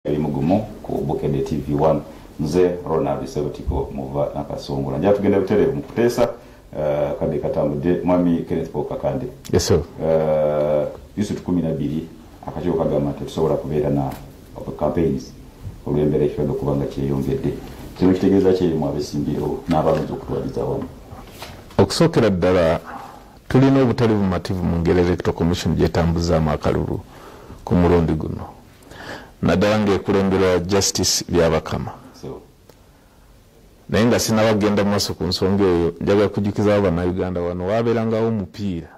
Elimu gumu ku Bukedde TV 1 mzee Ronald Sebutiko muva nakasungula nja tugenda butereevu mu kuteesa uh, kadde katambudde mwami Kenneth Paul Kakande yes, sir. Uh, Yusufu kumi na bbiri akakiiko kagamba nti tusobola kubeera na campaigns olw'embeera ekibadde okuba nga kyeyongedde kino kitegeeza kyerimu abesimbirewo n'abalonzi okutwaliza awamu okusookera ddala tulina obutali bumativu mu ngeri electoral commission gyetambuzaamu akalulu ku mulundi guno naddala ng'ekulemberwa justice byabakama naye nga sinaba kugenda mu maaso ku nsonga eyo njagala kujjukizawo bannayuganda wano waabeerangawo omupiira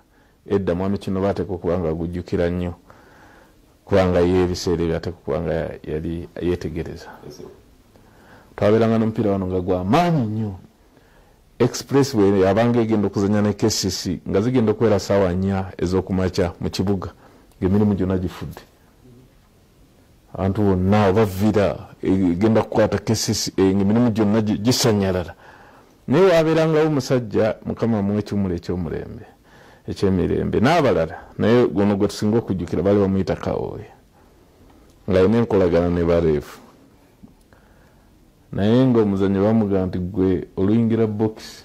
edda mwami kino baateeka okuba nga agujjukira nnyo kubanga ye ebiseera ebyo ateeka okuba nga yali yeetegereza twabeeranga n'omupiira wano nga gwa maanyi nnyo express bwe yabanga egenda okuzanya ne kcc nga zigenda okubeera saawa nnya ez'okumakya mu kibuga ng'emirimu gyonna gifudde abantu bonna obavira egenda kukwata kesisi eh, emirimu gyonna gisanyalala naye wabeerangawo omusajja mukama mu ekimula ekyomulembe ekyemirembe n'abalala naye guno gwe tusinga okujjukira baali bamuyita kawooya ng'alina enkolagana ne bareefu naye ng'omuzanyo bamugamba nti gwe oluyingira bokisi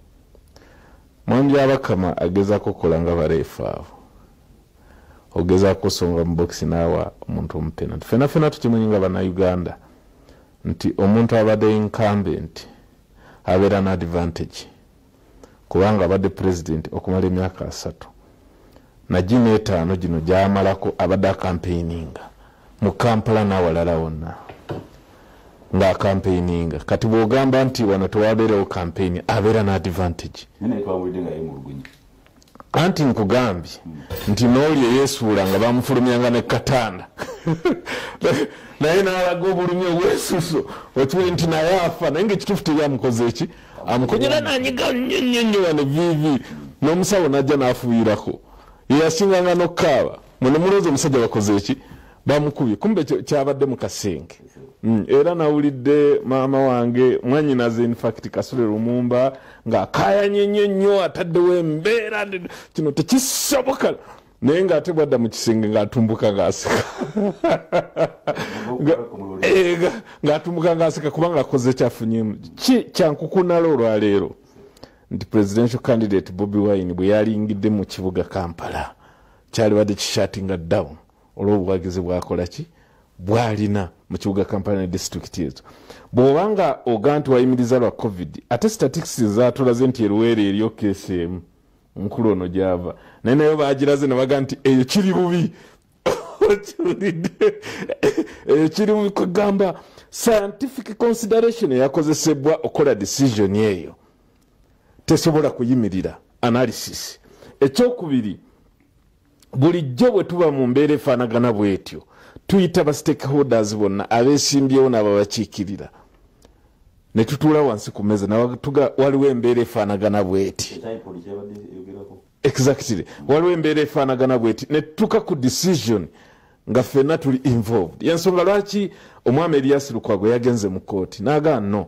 Mwami Byabakama agezako kola nga bareefu abo ogezako songa mu bokisi naawa omuntu omupenati fena fena tukimanyi nga banauganda nti omuntu abadde nkambe nti abeera na advantage kubanga abadde president okumala emyaka asatu Najino etaano gino gyamalako abadde akampeininga mu Kampala n'awalala wonna ng'akampeininga kati bw'ogamba nti wano tewabeerewo kampeyini abeera n'adivantage anti nkugambye nti n'oli eyesuula nga bamufulumyanga ne katanda naye n'alaga obulumi obwesuso okimanyi nti naye afa naye ngaekituufu tebyamukoze eki amukunyira nanyiga nnyo nnyo nnyo wano vivi n'omusawo n'ajja n'afuuyirako yeyasinganga n'okukaaba mwene mulowooza omusajja bakoze eki bamukubye kumbe kyabadde mu kasenge mm, era nawulidde maama wange mwanyinaze infact kasule lumumba ng'akaayanye nnyo nnyo ataddewo embeera kino tekisoboka naye nga ate bwadda mu kisenge ng'atumbuka ng'aseka eh, ng'atumbuka ng'aseka kubanga akoze kyafunyemu ki kyankukunala olwaleero nti presidential candidate bobi wine bwe yalingidde mu kibuga kampala kyalibadde kishatinga down olw'obuwagizi bwakola ki bwalina mu kibuga kampala ne disitulikiti ezo bw'oba nga oga nti wayimiriza lwa covid ate statistics zatulaze nti eruweera eryo keesi emu nkulu ono gyava naye nayo bagiraze nebaga nti eyo kiri bubi okiwulidde eyo kiri bubi kugamba scientific consideration eyakozesebwa okukola decision eyo tesobola kuyimirira analysis ekyokubiri bulijjo bwe tuba mu mbeera efaanagana bwetyo tuyita ba stakeholders bonna abesimbyewo nababakiikirira ne tutuula wansi ku meeza natuga waliwo embeera efaanagana bweti exactly waliwo embeera efaanagana bweti ne tutuuka ku decision nga ffenna tuli involved yensonga lwaki omwami eriyasi lukwago yagenze mu kooti nagaa no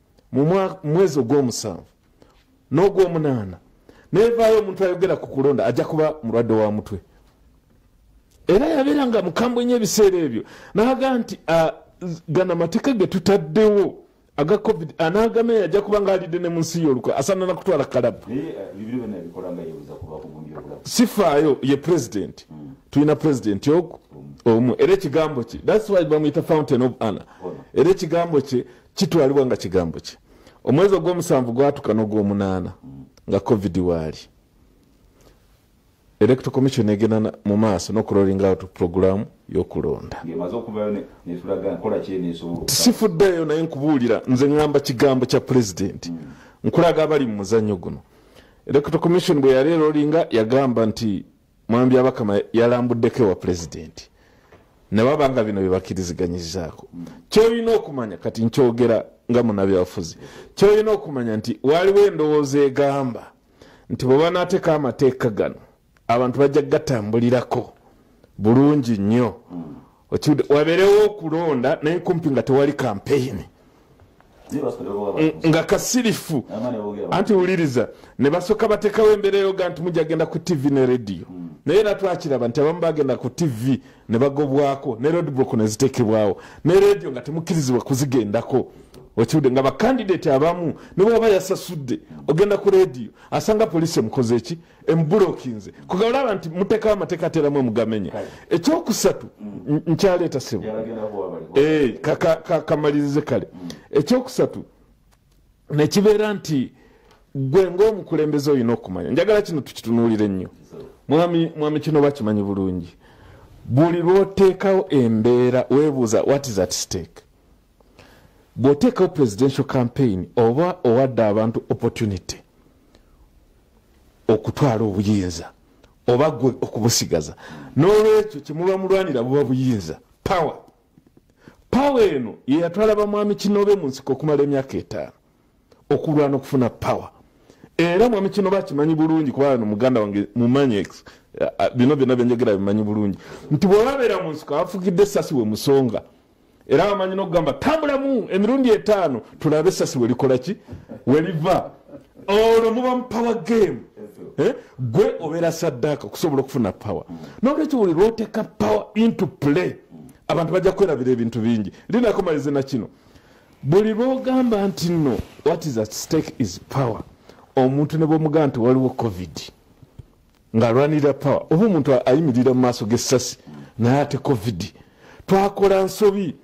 mu mwezi ogwomusanvu n'ogwomunaana nevaayo omuntu ayogera ku kulonda ajja kuba mulwadde wa mutwe era yabeera nga mukambwe nyo ebiseera ebyo naga nti gana amateeka getutaddewo aga covid anagame yajja kuba nga alidde ne mu nsi yolukwe asanana kutwala kalabu sifaayo ye president hmm. tulina president ogu omu era ekigambo kye thats why bamuyita fountain of anna era ekigambo kye kitwalibwa nga kigambo kye omwezi ogwomusanvu gwatuka nogwomunaana nga covid waali electo commission egenda mu maaso nokulolinga out programu yokulonda sifuddeyo naye nkubuulira nze ŋamba kigambo kya pulezidenti mm. nkulaga abali mu muzanyo guno electo commission bwe yali elolinga yagamba nti mwami byabakama yalambuddeko ewa pulezidenti nebaba nga bino byebakiriziganyizako kyolina okumanya kati nkyogera nga munabyabufuzi kyolina okumanya nti waliwo endowooza egamba nti bwebanateka amateeka gano abantu bajja gatambulirako bulungi nnyo wabeerewo okulonda naye kumpi nga tewali kampeyini nga kasirifu anti wuliriza ne basooka batekawo embeera eyoga nti mujja genda ku tivi ne rediyo hmm. naye era twakiraba nti abamu bagenda ku tivi ne bagobwako ne rodbok ne zitekebwawo ne rediyo nga temukkirizibwa kuzigendako okiwudde nga bakandidati abamu ne bwaba yasasudde ogenda ku rediyo asanga poliisi emukoze eki embulokinze kuga olaba nti mutekawo amateeka ateramu omugamenya ekyokusatu nkyaleeta sebo eh, kamalirize kale mm. ekyokusatu nekibeera nti gwe ngaomukulembeze olina okumanya njagala kino tukitunulire nnyo mwami kino bakimanyi bulungi buli lwoteekawo embeera webuuza what is at stake bw'oteekawo presidential campaign oba owadde abantu opportunity okutwala obuyinza oba gwe okubusigaza n'olwekyo kyemuba mulwanira buba buyinza power power eno yeyatwala bamwami kinobe mu nsiko okumala emyaka etaano okulwana okufuna power era mwami kino bakimanyi bulungi kuba no muganda wange mumanyi eh, eh, bino byona byenjogera bimanyi bulungi nti bwebabeera mu nsiko abafugidde esasi we musonga era bamanyi nokugamba tambulamu emirundi etaano tulabe esasi welikolaki weliva olwo muba mu power game eh? gwe obeera saddaaka okusobola okufuna power nolwekyo buli lwoteka power into play abantu bajja kwerabira ebintu bingi linakomalize na kino buli lwogamba nti no what is at stake is power omuntu ne bwomugamba nti waliwo covid ng'alwanirira pawa oba omuntu ayimirira mu maaso g'essasi naye ate covid twakola nsobi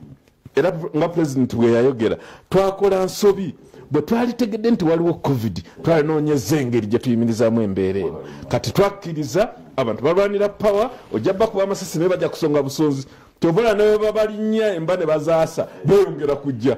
era nga pulezidenti bwe yayogera twakola nsobi bwe twalitegedde nti waliwo covid twalinoonyeza engeri gye tuyimirizaamu embeera eno kati twakkiriza abantu balwanira pawa ojja bakuba amasasi naye bajja kusonga busonzi kyobola nawe babalinnya emba ne bazaasa beyongera kujja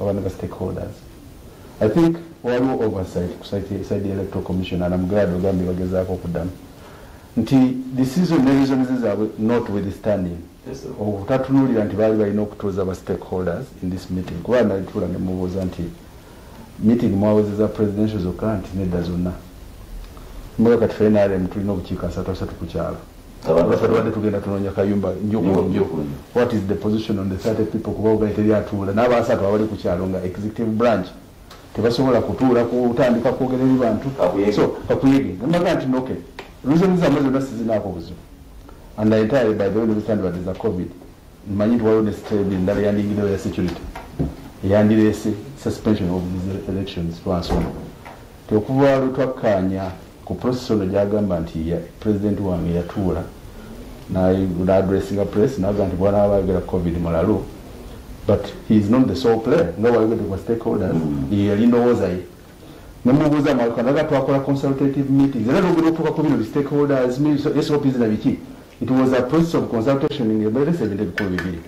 abana ba stakeholders i think waliwo oversight ku side electoral commission and am glad ogambye bagezaako okuddamu nti decision ne reasons zaabwe not withstanding okutatunulira nti baali balina okutuuza ba stakeholders in this meeting kuba nalituula ne mubuuza nti meeting mwawezeza presidential zokka nti nedda zonna mbaga kati fenarem tulina obukiiko asatu asatu ku kyalo abantu basatu badde tugenda tunonya kayumba njokulomjo what is the position on the 30 people kuba ugaye teri atuula n'abasatu abali ku kyalo nga executive branch tebasobola kutuula kutandika kwogera eri bantu so kakuyege namaga nti noke reason zamwe zonna sizinaako buzibu and i entirely by the way nobstand what is a covid manyi nti waliwo ne state endala yandingidewo ya security eyandireese suspension of these elections twansoma tekuva lutwakkaanya Ku process ono gyagamba nti president wange yatuula n'adressinga press n'agamba nti bwana abaagala covid mulalu but he is not the sole player nga wayogedde kwa stakeholders mm. ye yali ndowooza ye nemubuuza mwakanaga twakola consultative meetings era nogera okutuuka ku bino bistakeholders sops na biki it was a process of consultation ngeberesa ebintu ebikulu bibiri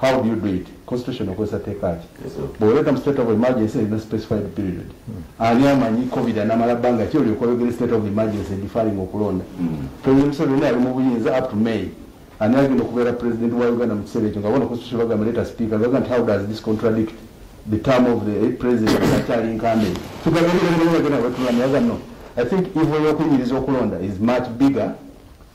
how do you do it constitution okozesa teeka ki bwoleta mu state of emergency erina specified period hmm. ani amanyi covid anamala bbanga ki olyoka oyogere state of emergency defaring okulonda hmm. president museveni ali mu buyinza up to may ani agenda okubeera president wa uganda mu kiseera ekyo nga bona constitution bagamba leta speaker baga nti how does this contradict the term of the eh, president akyali nkambe tugabaagenda wetulana yaga no i think evil yokunyiriza okulonda is much bigger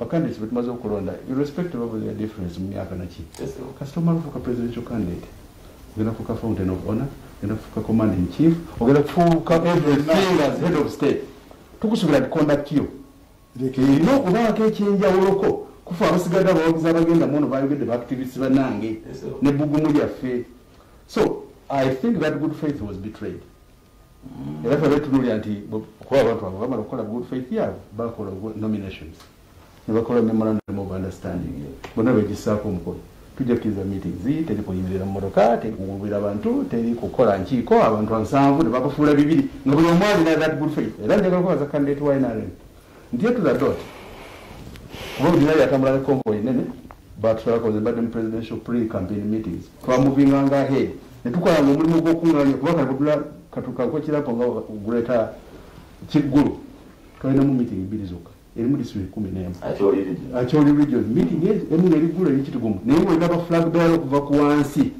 Bakandidate betumaze okulonda irrespective of their difference mu myaka naki kasita omala ofuuka presidential candidate ogenda kufuuka fountain of honor ogenda kufuuka command in chief ogenda kufuuka everything as head of state tukusubira nti conduct yo erina okubaako ekyenjawuloko kufa abasigadde abawagizi abagenda muono bayogedde baactivist banange ne bugumu lyaffe so i think that good faith was betrayed era fe betunulya nti kuba abantu abo bamala okukola good faith yabo bakola nominations nebakola memorandum of understanding bona begisaako omukono tujja kukiriza meetings teri kuyimirira mu motoka teri kuwubira abantu teri kukola nkiiko abantu ansanvu nebabafuula bibiri nga buli omu alina that good faith era njagala kubaza candidate wa nrm ndiye to the dot kuba olina yatambula ne convoy nene batulakoze badde mu presidential pre campaign meetings twamuvinganga ahead ne tukolanga omulimu gw'okunganya kuba kakutula katukakokirapo nga guleeta kiggulu twalinamu meeting bbiri zokka erimu disitulo ekumi nemu akyoli region meeting emu neriggulu erikitugumu naye mwena ba flag bearer okuva ku wansi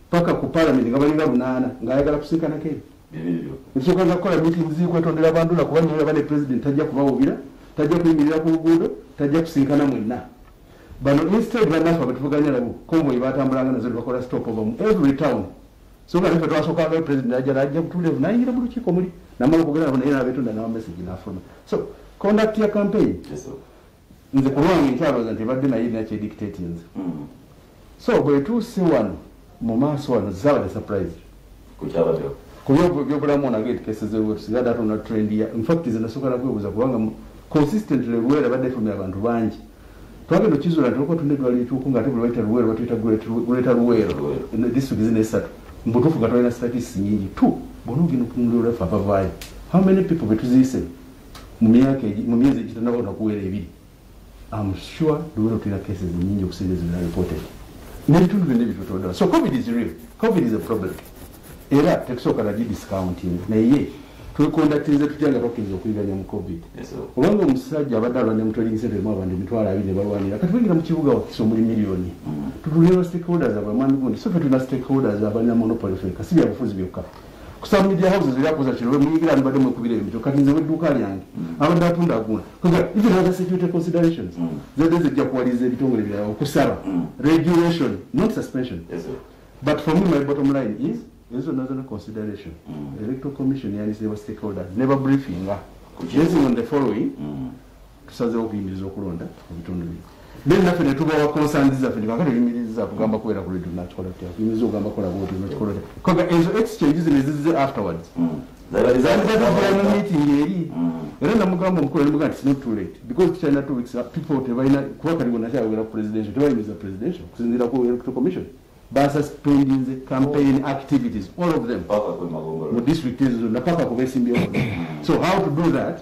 paka ku parliament nga balinga lunaana ng'ayagala kusiikanako ebyo ekisooka nja kukola meeting ziri kwetondera abantu na kuba nyola bane president tajja kubawubira tajja kuyimirira ku luguudo tajja kusinkana mwenna bano instead banafa betuvuganya nabo konvoyi batambulanga nazo nebakola stop over mu every town so nga nafe twasookangayo president ajja najja kutulevu nayingira mu lukiiko muli namala okugera nabo naye nabetonda nawa message nafuna so conduct ya campaign yes, nze kulwange nkyalooza nti ebadde naye erina kyedictatinze mm. so bwetuuse wano mu maaso wano zabadde surprise kubyobulamu onageetukesezewetusigadaatonda trend ya infact zenasokala kwebuuza kubanga consistently luweera badde efumya abantu bangi twagenda okizula nti olwokuba tunda edwaliro ekyoku nga ate buli waita luweero batuyita guleta luweero disitulikiti zina esatu mbutuufu nga twalina statis nyingi t bona ogenda okunulirafe abavaayo how many people betuziise mu myaka mu myezi egitanaba onakuwera ebiri am sure luwero tulina cases nyingi okusinga ezibina reported nebitundu byonna ebitutondola so covid is real covid is a problem era tekusooka nagi discounting naye twekondatinze tutya nga bakiriza okuyiganya mu covid obanga omusajja abadde alwanira mutwaligisentemu abantu emitwalo abiri ne balwanira kati bayingira mu kibuga wakisa omuli miliyoni mm. tutunira stakeholders abamani gundi so fe tulina stakeholders abalina monopoly feka si byabufuzi byokka kusa media houses era koza kino we muyigira ni bademu kubira ebyo kati nze weduka lyange abadde atunda aguna koza even other security considerations mm. zede zijja kuwaliza ebitongole bya okusaba mm. regulation not suspension yes, but for me my bottom line is is another consideration mm. electoral commission yani se stakeholders never briefing based on the following mm. tusazeewo okuyimiriza okulonda mu bitundu bino naye naffe ne tubawa konsanzi zaffe ne kakati oyimiriza kugamba kubeera ku radio nakikola tya oyimiriza okugamba kola bwoti nakikola tya koga ezo exchange zino ezizze afterwards mm. meeting eri mm. era namugamba omukulu nemuga nti not too late because tukyalina two weeks people tebalina kuba kati bonakyayogera ku presidential tebayimiriza presidential okusinziira ku electoral commission basuspendinze campaign activities all of them mu district ezo zonna paka kubesimbyeo mm. so how to do that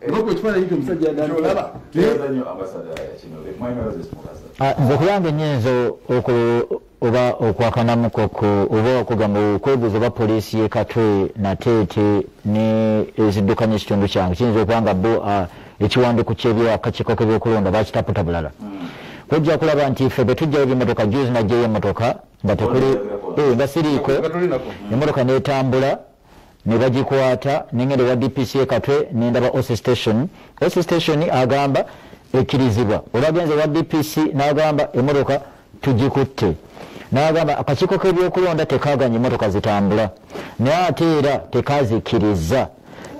Ebako ekifaananyi kyo musajja yadaalaba. Tuyaza nnyo ambasada kino be mwami baze simukaza. Ah, nze kuyange nnyinza oku oba okwakanamuko ku oba okugamba okwebuuza oba poliisi y'e Katwe nateete ne eziddukanya ekitundu kyange kiyinza okuba nga bo ah, ekiwandiiko ky'ebyakakiiko k'ebyokulonda bakitaputa bulala. Hmm. Kujja kulaba nti ffe bwe tujjayo ebimotoka juzi najjayo emotoka nga tekuli eh, nga siriiko emotoka n'etambula. ne bagikwata nengenda ewa dpc ekatwe nendaba oc station oc station agamba ekkirizibwa olwagenze ewa dpc nagamba emotoka tugikutte nagamba akakiiko k'ebyokulonda tekaganya emotoka zitambula naye ate era tekazikkiriza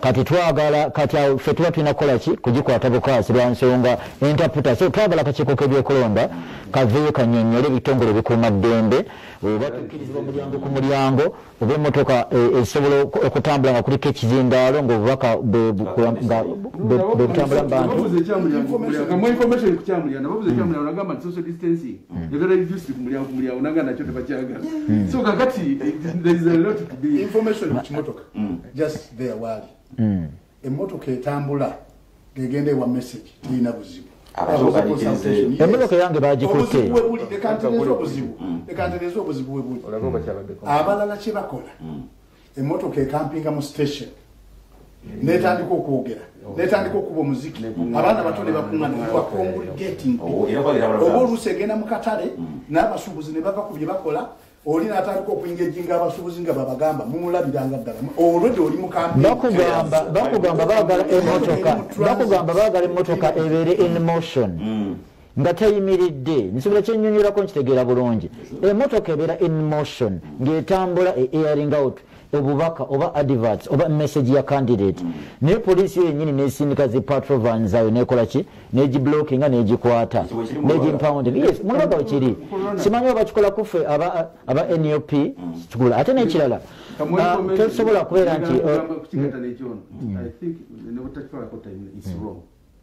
kati twagala kati awo fe tuba tulina kukola ki kugikwata bukwasi lwa nsonga entaputa so twagala kakiiko k'ebyokulonda kaveeyo kanyonyole ebitongole bikuuma ddembe oba tukkirizibwa mulyango ku mulyango oba emotoka e, esobola okutambula nga kuliko ekizindaalo ngaobubaka bebutambula mubantu Emmotoka etambula ng'egenda ewa message terina buzibu. Emmotoka yange baagikutte. Obuzibu we buli, leka ntereeze obuzibu. Mm. Leka ntereeze obuzibu we buli. Abalala kye bakola, mm. emmotoka ekampinga mu station. netandika okwogera netandika okuba omuziki abaana bato nebakuŋanaaongulgating oh, oba oluusi egenda mu katale mm. n'abasuubuzi ne bava ku bye bakola oli natandika okuingejinga abasubuzi nga babagamba mumulabiranga ddala olwedde oli mukambibakugamba bakugamba bagala emotoka bakugamba bagala emotoka ebeere in motion mm. nga teyimiridde nsobola kyenyonyolako nkitegeera bulungi emotoka ebeera in motion ngaetambula e airing out obubaka oba adverts oba message ya candidate mm. naye poliisi yo yenyini nesindika zi patrovan zayo nekola ki negiblocking nga negikwata negimpounding yes mulaga wekiri simanyi oba kikola kuffe aba, aba nup mm. kigula ate nekirala ah, tosobola kubeera nti uh, mm.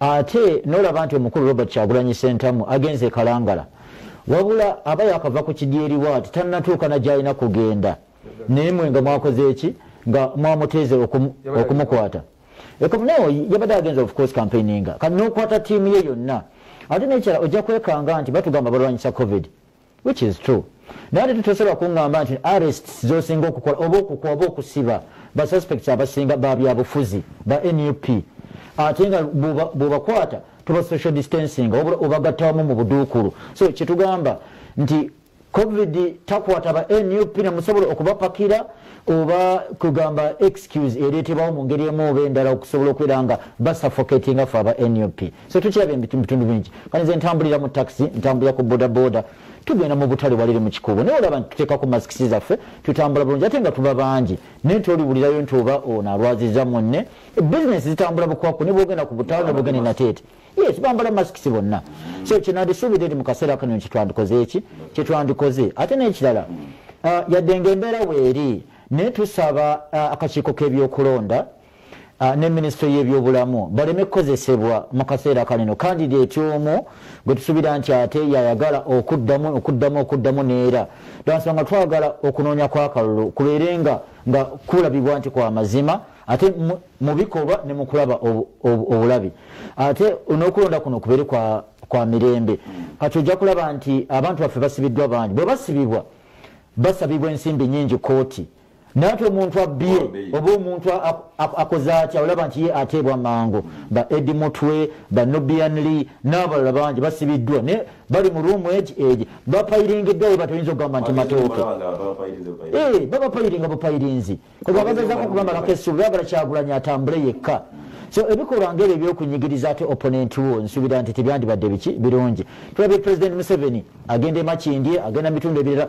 ate nolaba nti omukulu robert kyagulanyi sentamu agenze ekalangala wabula aba yakava ku kidyeriwa ati tanatuuka nagyalina kugenda naye mwe nga mwakoze eki nga mwamuteeze okumukwata ekomunawo yabadde agenze ofcourse campaigninga kati nokwata tiimu ye yonna ate nekyala ojja kwekanga nti batugamba balwanyisa covid which is true naye ate tutesobola kungamba nti arrests zosinga okukola oba okukwa oba okusiba ba suspects abasinga babyabufuzi ba nup ate nga bwebakwata tuba social distancing obagattawamu mu buduukulu so kyetugamba nti covid takwata ba nup nemusobola okubapakira oba kugamba excuse ereetebwawo mu ngeri emu oba endala okusobola okubeera nga basuffocatinga fe aba nup so tukirabye mubitundu bingi kati nze ntambulira mu taxi ntambulira ku bodaboda tugenda mu butale walire mu kikuubo naye olaba tuteekako masikisi zaffe tutambula bulungi ate nga tuba bangi naye toliwulirayo nti oba ono alwaziza munne bizinesi zitambula bukwakku ne bwogenda ku butale ne bwogenda enateete yes bambala masikisi bonna so kyenandisuubira eri mu kaseera kano nti twandikoze eki kyetwandikoze ate n'ekirala uh, yadde nga embeera weeri naye tusaba uh, akakiiko k'ebyokulonda Ah, ne minisitule y'ebyobulamu baleme kukozesebwa mu kaseera kanino kandideti omu gwe tusuubira nti ate yayagala okuddamu okuddamu okuddamu neera lwansonga twagala okunoonya kwakalulu kubeere nga nga kulabibwa nti kwa mazima ate mu bikolwa ne mu kulaba obulabi ate n'okulonda kuno kubeere kwa mirembe kati ojja kulaba nti abantu baffe basibiddwa bangi bwe basibibwa basabibwa ensimbi nyingi kooti naye ati omuntu abbye oba omuntu akoze atya olaba nti ye ateebwa mangu ba edi mutwe ba nubian lee n'abalala bangi basibiddwa naye bali mu ruumu egi egi bapayiringiddwa we batoyinza okugamba nti matooke eh, babapayiringa bupayirinzi kuba bagezako okubamalako essuubi bagala kyagulanyi atambule yekka so ebikolwa ngaebyo ebyokunyigiriza ate opponent wo nsuubira nti tebyandibadde biki birungi tulabye president museveni agenda emakindye agenda mitundu ebirala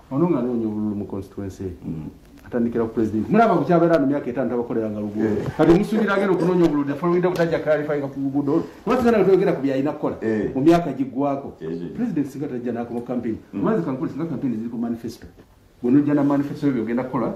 ono nga anoonya obululu mu constituency mm. atandikira ku president mulaba ku kyabeera no myaka etaano tabakoleranga luguudo eh. kati musuubira agenda okunoonya obululu nefolowinda kutajja kalifayinga ku luguudo olu kuba tugenda nga tweyogera ku byalina kukola eh. mu myaka giggwako president singa tajja nakoma campaign mm. amazi kankole singa campaign ziri ku manifesto bwonojja na manifesto yo byogenda kukola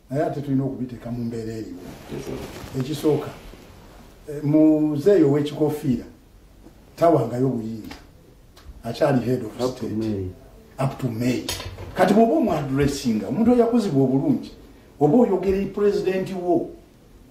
naye ate tulina okubiteeka mu mbeera eriwo ekisooka eh, muzeeyi ow'ekikofiira tawangayo buyinza akyali head of state up to may kati bwoba omwadressinga omuntu oyakuzibwa obulungi oba oyogera pulezidenti wo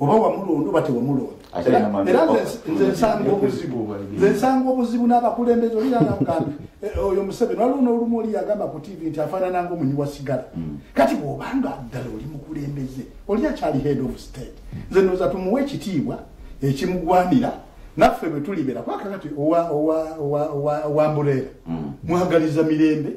oba wamulonda oba tewamulondanzensanga obuzibu n'abakulembeze oliranagambe eh, oyo museveni waliwo n'olumu oli yagamba ku tivi nti afaanananga omunyi wa sigala mm. kati bw'obanga ddala oli mukulembeze oli akyali head of state nze noza tumuwa ekitiibwa ekimugwanira naffe bwe tulibeera kwakakati owa mbureera mm. mwagaliza mirembe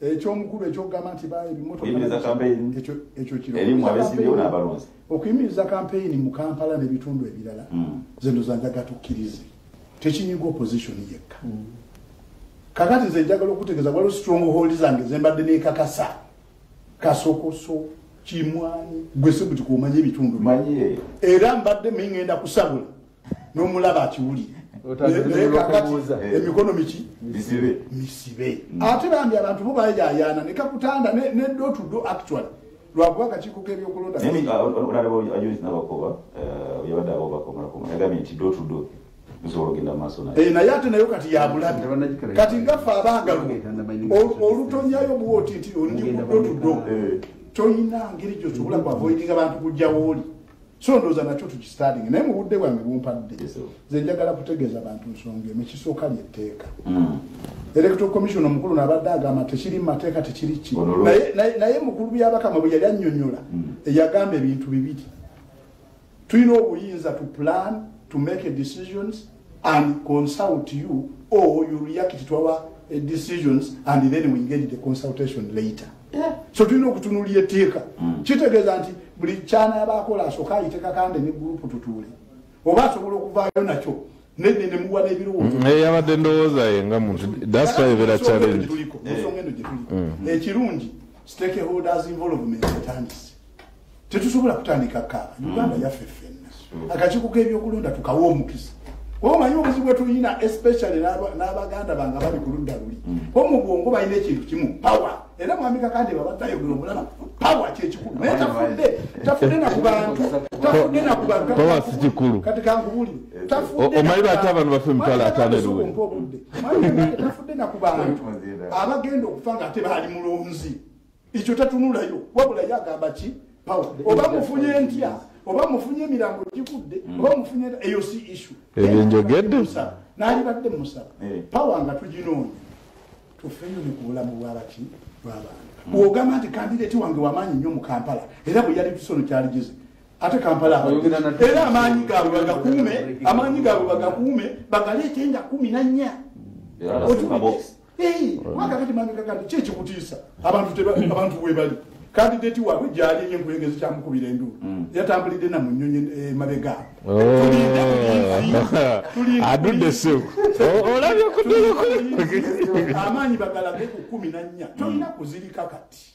ekyomukulu ekyokugamba nti okuyimiriza kampeyini mu kampala nebitundu ebirala hmm. zino zanjaga tukkirize tekinyiga opposition yekka hmm. kakati nze njagala okutegeza waliwo strong hold zange zembadde nekakasa kasokoso kimwanyi gwe sibuti kuomanya ebitundu era mbadde mingenda kusabula nomulaba akiwulire emikono miki misibe mm. ate bambi abantu bo bayayaana nekakutanda nedotudo actually lwakuba kakiiko kebyokolodaoyabaddeaobakomayagambe nti dotudo eh, naye ate nayo kati yabulabi kati ngaffe abangalu olutonyayo bwoti nti olikudotudo eh. toyina ngeri gyosobola kwavoidinga bantu kujjawooli so ndowooza nakyo tukisitalinga naye mu budde bwange bumpadde nze njagala kutegeeza bantu nsonga emu ekisooka lyetteeka hmm. electoral commission omukulu nabadde agamba tekiri mu mateeka tekiri ki naye mukulu byabakama bwe yali annyonnyola hmm. eyagamba ebintu bibiri tulina obuyinza to plan to make decisions and consult you or you react to our eh, decisions and then we engage the consultation later yeah. so tulina okutunulya etteeka mm. kitegeeza nti buli kyanaaba akola asooka ayiteka kande ne gurupu tutuule oba asobola okuvaayo nakyo nene nemuwa n'ebirowoozo mm, eh, yabadde ndowooza ye nga muntu dasibera challenge ekirungi stakeholders involvement etandise tetusobola kutandika kaaba mm. uganda yaffe ffenna mm. akakiiko k'ebyokulonda tukawa omukisa omanyi obuzibu bwetulina especially n'abaganda bange abali ku ludda luli mm. o mu bwongo balina ekintu kimu power era mwami kakande babatayogera omulaba power kyekikulu naye tafudde tafudde nakubantu tafudde nakubantu power si kikulu kati kangubuli tafudde omanyi lwaki abantu bafe emitwalo ataano eruwe tafudde nakubantu abagenda okufa nga ate baali mulonzi ekyo tatunulayo wabula ye agamba ki pawa oba mufunye ntya oba mufunye emirambo gigudde mm. oba mufunye eyo si isu ebyo njogedde nalibadde musaba eh. pawa nga tuginoonya tufeyo ne ku bulamu bwabaki bwabantu mm. bwogamba nti kandideti wange wamaanyi nnyo mu kampala era bwe yali tusono kyaligize ate kampala era amaanyi gaabwe bagakuume amaanyi gaabwe bagakuume bagaleete nga kumi nannya mwakakati mambika kati ki ekikutiisa abantu webali kandidati waabwe gyali eyo enkulengezi kyamukubira enduulu mm. yatambulidde na mu nyonyi eh, mabega oh. adudde seku olabye kudulukuli amaanyi bagalage ku kumi na nnya tolina mm. kuzirika kati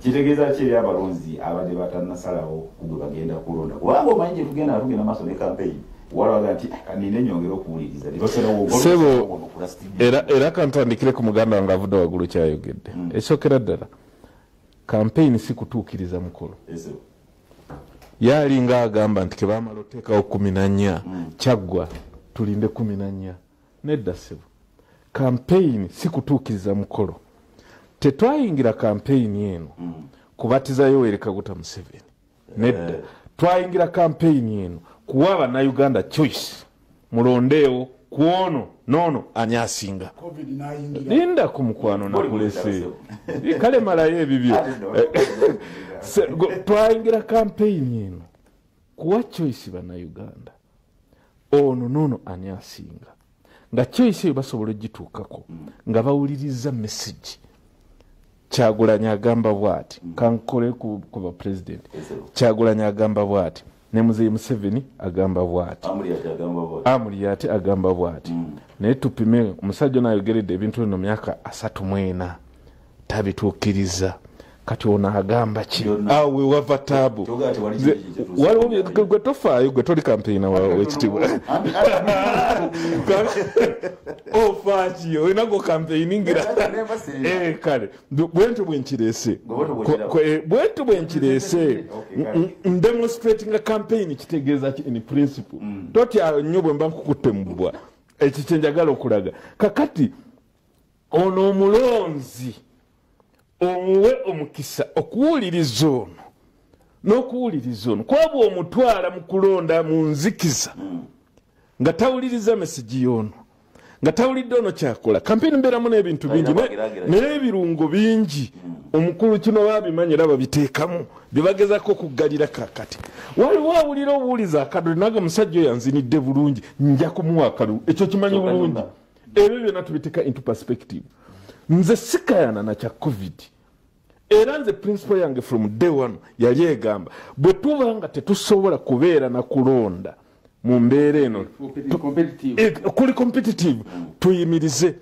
kitegeeza ki eri abalonzi abadde batanasalawo kugwe bagenda kulonda kubanga omanyi gyetugenda tugenda maaso ne kampeyini era kantandikire ku muganda wange avudde wagulu kyayogedde hmm. ekyokera ddala kampeyini si kutuukiriza mukolo yaalinga agamba nti kebamala oteekawo kumi nanya hmm. kyaggwa tulinde kumi nanya nedda ssebo kampeyini si kutuukiriza mukolo tetwayingira kampeyini eno mm. kubatiza yoweri kaguta museveni nedda eh. twayingira kampeyini eno kuwa bannayuganda choice mulondeewo ku ono noono ani asinga linda ku mukwano nakulese kale malayo ebibyo twayingira kampeyini eno kuwa choice bannayuganda ono oh, noono ani asinga nga choice eyo basobola ogituukako nga bawuliriza message kyagulanyi agamba bwati kankole ku bapulezidenti kyagulanyi agamba bwati ne muzeyi museveni agamba bwati amuliyate agamba bwati mm. naye tupime omusajja ono ayogeredde ebintu eno myaka asatu mwena tabituukiriza kati ono agamba ki awo wewava taabu gwe tofaayo gwe toli kampeyina wekitibwa ofaaki oh, olina gwo kampeyiningira eh, kale bwentyo bwenkirese eh, bwentyo bwenkirese ndemonstratinga kampeyini kitegeeza ki in principle mm. totya nnyo bwemba nkukutte mubwa ekikyenjagala okulaga kakati ono omulonzi omuwe omukisa okuwuliriza ono n'okuwuliriza ono kwaba omutwala mu kulonda mu nzikiza nga tawuliriza mesigi y'ono nga tawulidde ono kyakola kampeni mbeeramu n'ebintu bingi naye ebirungo bingi omukulu kino babimanyi era babiteekamu byebagezako okuggalira kakati waliwo awulira obuwuliza akadole naga musajja oyo anzinidde bulungi nja kumuwa akalulu ekyo kimanyi bulungi ebyo byona tubiteka into perspective nze sikayana nakya covid era nze principal yange from day one yali egamba bwe tuba nga tetusobola kubeera na kulonda mu mbeera eno eh, kuli competitive tuyimirize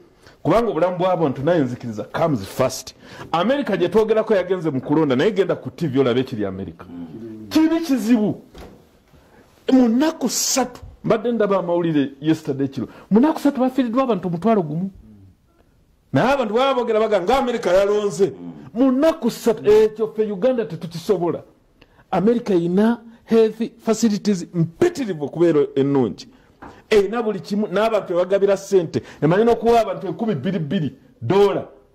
kubanga obulamu bwabuntu naye nzikiriza comes first america gyetwogerako yagenze mu kulonda naye genda ku tv olabe ekiri america kibi kizibu mu nnaku ssatu mbadde ndaba amawulire yesterday kiro mu nnaku ssatu bafiiriddwa abantu omutwalo gumu naye abantu baba bogera baga nga amerika yalonze mu nnaku ssatu ekyo ffe uganda tetukisobola amerika erina health facilities mpitirivu okubeera ennungi erina buli kimu n'abantu ebagabira ssente emanyi n'okuwa abantu enkumi bbiri bbiri doola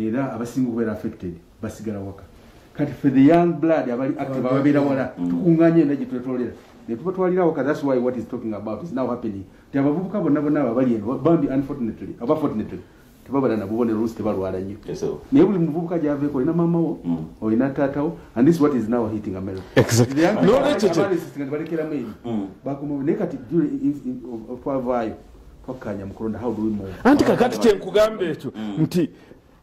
era abasinga okubeera affected basigala waka kati fe the young blood abali active ababeera wala mm. tukunganye enda gye twetolera netubatwalira waka thats why what is talking about is now happening ti abavubuka bonna bonna abo abali eno bambi unfortunately aba fortunately tebabala nabubonero olusi tebalwala nnyo naye buli muvubuka gyaveeko olina maamawo mm. olina taatawo and this what is now hitting americabalekeramu eri mm. bakomawo naye kati twavaayo anti kakati kyenkugamba ekyo mm. nti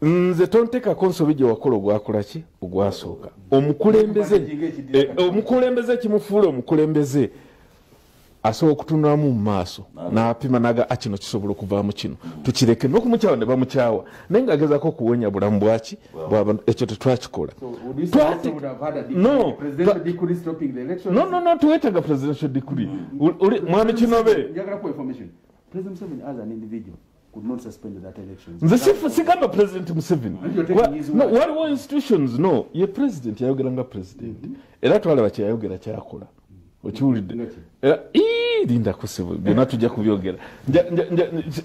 nze tontekako nsobi gyewakola ogwakola ki ogwasooka omukulembeze eh, omukulembeze ekimufuula omukulembeze asobola okutunulamu mu maaso n'apima naga akino ah, kisobola okuvaamu kino tukireke n'okumukyawa ne bamukyawa naye nga agezako okuwonya bulamu bwaki bwabantu ekyo tetwakikola twetaga presidential degree mm. mwami kinobe nze sigamba president museveni waliwo institutions no ye president yayogera nga president mm-hmm. era twalaba kyeyayogera kyakola mm -hmm. okiwulidde eh, linda kusibu byonna tujja kubyogera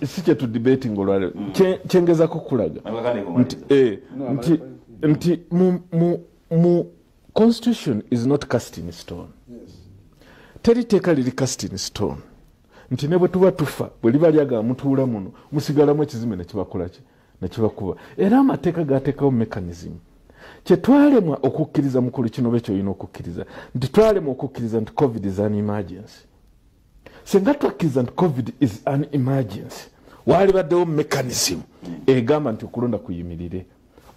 si kyetudibating olwaleo mm. kyengezako kukulaga eh, nti mu constitution is not cast in stone teri teeka liri cast in stone nti ne bwe tuba tufa bwe liba lyagala mutuula muno musigalamu ekizimbe nekibakolaki nekibakuba era amateeka gateekawo mechanism kyetwalemwa okukkiriza mukulu kino be kyolina okukkiriza nti twalemwa okukkiriza nti covid is an emergency singa twakkiriza nti covid is an emergency waalibaddewo mechanism egamba nti okulonda kuyimirire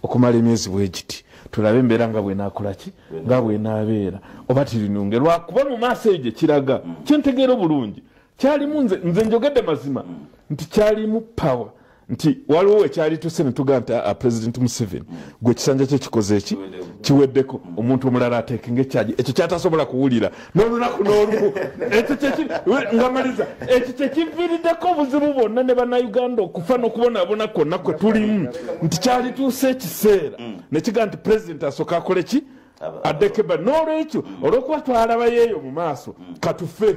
okumala emyezi bwegiti tulabe embeera nga bwenakolaki nga bwenabeera oba tirinunge lwakuba mu maaso eyo gyekiraga kyentegeera obulungi kyalimu nze nze njogedde mazima nti kyalimu power nti waliwo wekyali tuse netuga nti a president museveni gwe ekisanja kye kikoze eki kiweddeko omuntu omulala ateeke ngaekyaji ekyo kyatasobola kuwulira nolunaku nolumu ngamaliza ekyo kyekiviiriddeko obuzibu bwonna ne banauganda okufa nokubonabona kwonna kwe tulimu nti kyali tuuse ekiseera nekiga nti president asooka akole ki addekeba nolwekyo olwokuba twalabayo eyo mu maaso katufe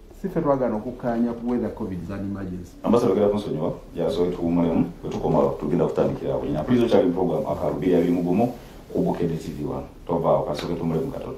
sife twagana okukkaanya ku weather covid is an emergency ambasa bagala kunsonyiwa yasobola tuwumulemu bwe tukomawo tugenda kutandikira awo nyina puliza okyali mu programu akalubi yali mugumu ku bukede tv wano tovaawo kasooke tumulemu katono